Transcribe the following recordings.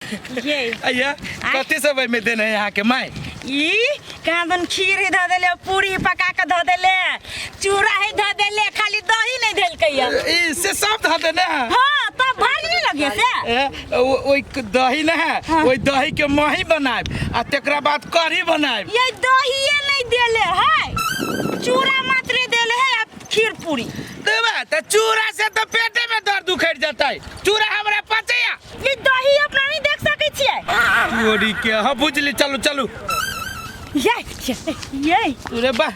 ये अय्या कथी सब में देने है यहाँ के माय ई कहाँ दन खीर ही धऽ देले पूरी पका के धऽ देले चूड़ा ही धऽ देले खाली दही नहीं देलकै या ई से सब धऽ देने है हाँ तब भर नहीं लगे से ए, ओ- ओइ क- दही न है हाँ। ओइ दही के मही बनाएब आ तेकरा बाद कढ़ी बनाएब ये दहिए नहीं देले है चूड़ा मात्र देले है आ खीर पूरी देबा त चूड़ा से त पेटे में दर्द उखड़ जतै चूड़ा हमरा पचैया ई दही अपना नहीं देख सके छिए तोरी के हां बुझली चलू चलू ये ये ये अरे बा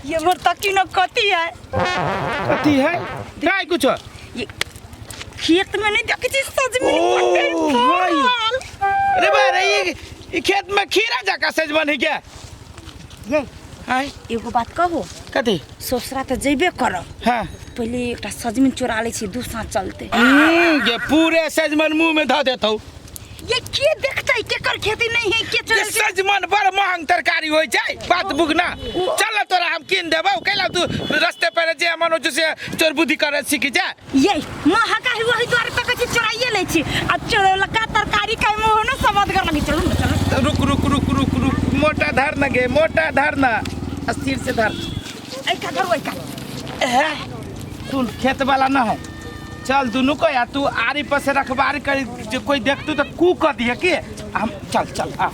ये मोर तकी न कती है कथी है काय कुछ ये खेत में नहीं देखे छी सजमन ओ, पकड़ भाई। फल। अरे बा रे ई- ई खेत में खीरा जाका सजमन है क्या ये हाय एगो बात कहो कथी ससुरा तऽ जेबे करब हाँ पहिले एकटा सजमनि चोरा लै छी दू साँझ चलते हम्म, जे पूरे सजमन मुंह में धऽ देतौ ये के देखतै केकर खेती नहीं है के जे चलै छै सजमन बड़ महंग तरकारी होइ छै बात बुगना चल ने तोरा हम कीन देबौ कैला तू रस्ते पर जे मनो से चोर बुद्धि करे सीख जा ये माँ हका ही वही द्वारे पे कची चोराइए ले छी आ चोरौला का तरकारी का मुंह ना समझ कर लगी चलू ना चलू रुक रुक रुक रुक रुक मोटा धर ना गे मोटा धर ना आ सिर से धर ऐ का धर ओइ का है तू खेत वाला ना है चल दुनू को या तू आरी पर से रखबार कर जे कोई देखतू तो कू कर दिए के हम चल चल आ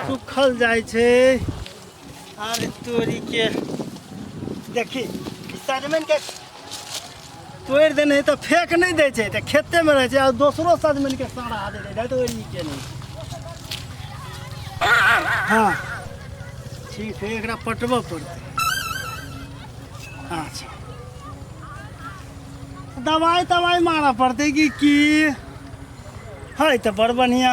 सुखल जाइ छै अरे तोरी के देखी ई सजमनि के तोड़ि देने है तो फेंक नहीं दे छै तो खेते में रहे छै और दोसरो सजमनि के सारा दे दे है तो ई के नहीं हाँ ठीक है एकरा पटबऽ पड़तै अच्छा दवाई तवाई मारऽ पड़तै कि की है तो बड़ बढ़िया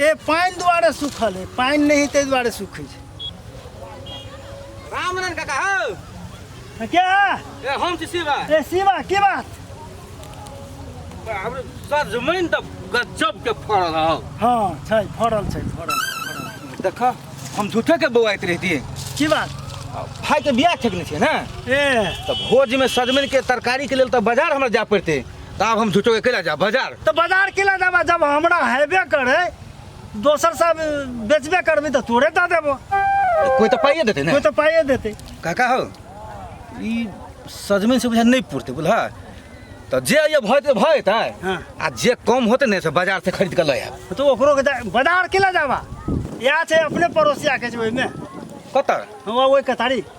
ए पानि दुआरे सूखल है पानि नहीं ताहि दुआरे सूखे छै रामनन काका हौ आ के है? ए हम छी शिवा ए शिवा की बात हमरे सजमैन त गजब के फड़ल हौ हाँ छै फड़ल छै फड़ल फड़ल। देख हम झूठे के बौआइत रहतिए की बात भाई के बियाह ठेकने छियै ने ए तऽ भोजमे सजमनिके तरकारीके लेल तऽ बाजार हमरा जाय पड़तै तऽ आब हम झूठो अकेला जायब बाजार तऽ बाजार केला देबा जब हमरा हेबे करे दोसर सब बेचबे करबी तऽ तोरे दऽ देबो कोई तऽ पाइए देतै ने कोई तऽ पाइए देतै काका हो ई सजमनि से बुझा नहि पुरतै बुझल तऽ जे अइए भऽ जेतै भऽ जेतै हँ। आ जे कम होतै ने से बाजार से खरीद कऽ लऽ आयब तो ओकरो के जा- बाजार केला जाबा या छै अपने पड़ोसिया के छै ओहिमे कतऽ हँ ओहि कतारी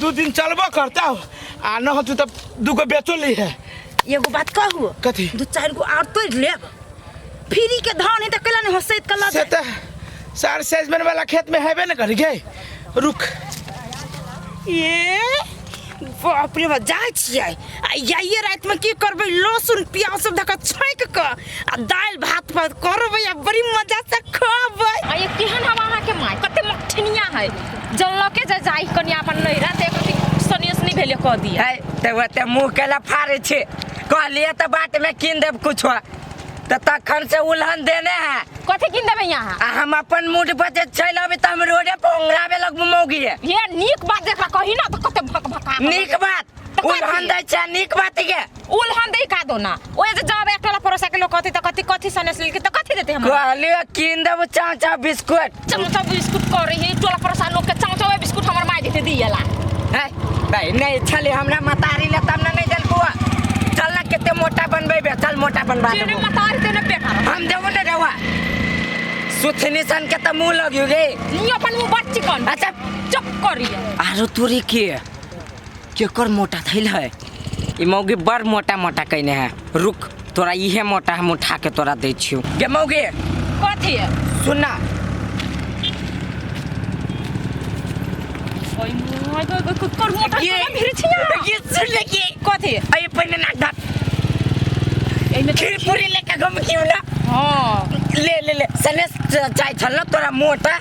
दू दिन चलबो करता आ न होतू तब दूगो बेचो ली है एगो बात कहू कथी दू चार गो और तोड़ लेब फ्री के धान है तो कला नहीं हसैत कला से तो सार सेजमेंट वाला खेत में हैबे न कर गए रुक ए बाप रे बा जाय छियै आ आइए रातिमे की करबै लहसुन प्याज सब धऽ कऽ छौंक कऽ आ दालि भात पर करबै आ बड़ी मजा से खबै आ ये केहन हम अहाँ के माय कते मठनिया है जल्लो के जे जाई कनी अपन नैरा ते कथि सनियस नहीं भेले कह दिया है ते ओते मुंह केला फाड़े छे कहलिए त बाट में कीन देब कुछो त तखन से उलहन देने है कथि किन देबै यहाँ आ हम अपन मूड पर जे चलि अबी त हम रोडे पर ओंगराबे लगबू मौगी है ये नीक बात जेकरा कही ना त कते भक भका नीक बात उलहन दै छै नीक बात के उल हम दे का दो ना ओए जे जब एक टोला परोसा के लोग कथी त कथी कथी सने से लेके त कथी देते हम कहली कीन देबो चाचा बिस्कुट चमचा बिस्कुट करे हे टोला परोसा लोग के चमचा ओए बिस्कुट हमर माई देते दियाला है भाई नहीं छले हमरा मतारी ले तब ना नहीं जलको चल ना केते मोटा बनबे बे चल मोटा बनबा जेने देबो मतारी तेने बेकार हम देबो ना रवा सुथनी सन के त मुंह लगियो गे नी अपन मुंह बच्ची कौन अच्छा चुप करिए आरो तोरी के केकर मोटा थैल है ई मौगी बड़ मोटा मोटा कैने है रुक तोरा इहे मोटा हम उठा के तोरा दै छियो गे मौगी कथी है सुनना ओए मोय गो गो कुकर मोटा ये- कोना भिड़ छिया ये सुन ले के कथी है अरे पहले ना ढक एमे त्रिपुरी लेके घूम क्यों ना हां ले ले ले सने चाय छल तोरा मोटा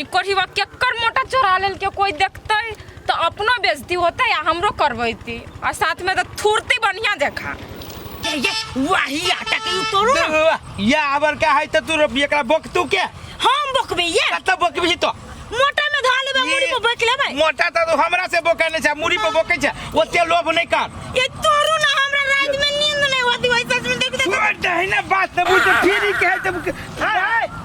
ई कोढ़ीवा केकर मोटा चोरा लेल के कोई देखते तो अपनो बेइज्जती होते या हमरो करबैती और साथ में तो थुरती बढ़िया देखा ये ये वही आटा के तोड़ू ना वाह, या आबर का है त तू रोपी एकरा बक तू के हम बकबे ये कत बकबी तो मोटा में धा लेबे मुड़ी पर बैठ लेबे मोटा त तू हमरा से बोके नै छ मुड़ी पे बोके छ ओते लोभ नै कर ये तोड़ू ना हमरा रात में नींद नहीं होती वैसे में देख देख तू दहिना बात न बुझ फिरी के है जब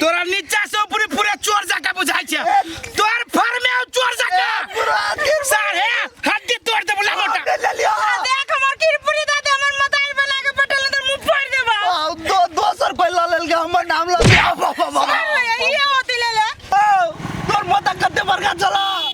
तोरा नीचा से ऊपरी पूरे चोर जका बुझाई छे तोर फर में आउ चोर जका सारे हड्डी तोड़ दे बुला मोटा देख हमर किरपुरी दे दे हमर मताल बना के पटल अंदर मुंह फोड़ देबा आओ, दो दोसर पहिला लेल के हमर नाम लग गया बाबा बाबा अरे ये होती ले ले तोर माता कते बड़का चला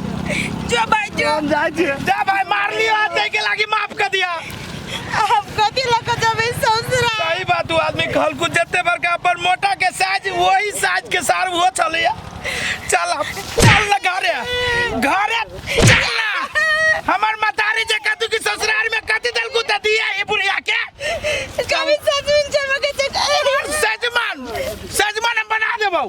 जो भाई जो हम जाए छे जा भाई मार लियो हाथ दे के लागी माफ कर दिया हम कथी लग जब ई ससुरा सही बात हुआ आदमी खल कुछ जते पर का पर मोटा के साज वही साज के सार वो चले चल अब, चल ना घरे घरे चल ना हमर मतारी जे कतु की ससुराल में कति दल को दे दिया ये बुढ़िया के कभी ससुर चमके चक सजमान सजमान हम बना देबो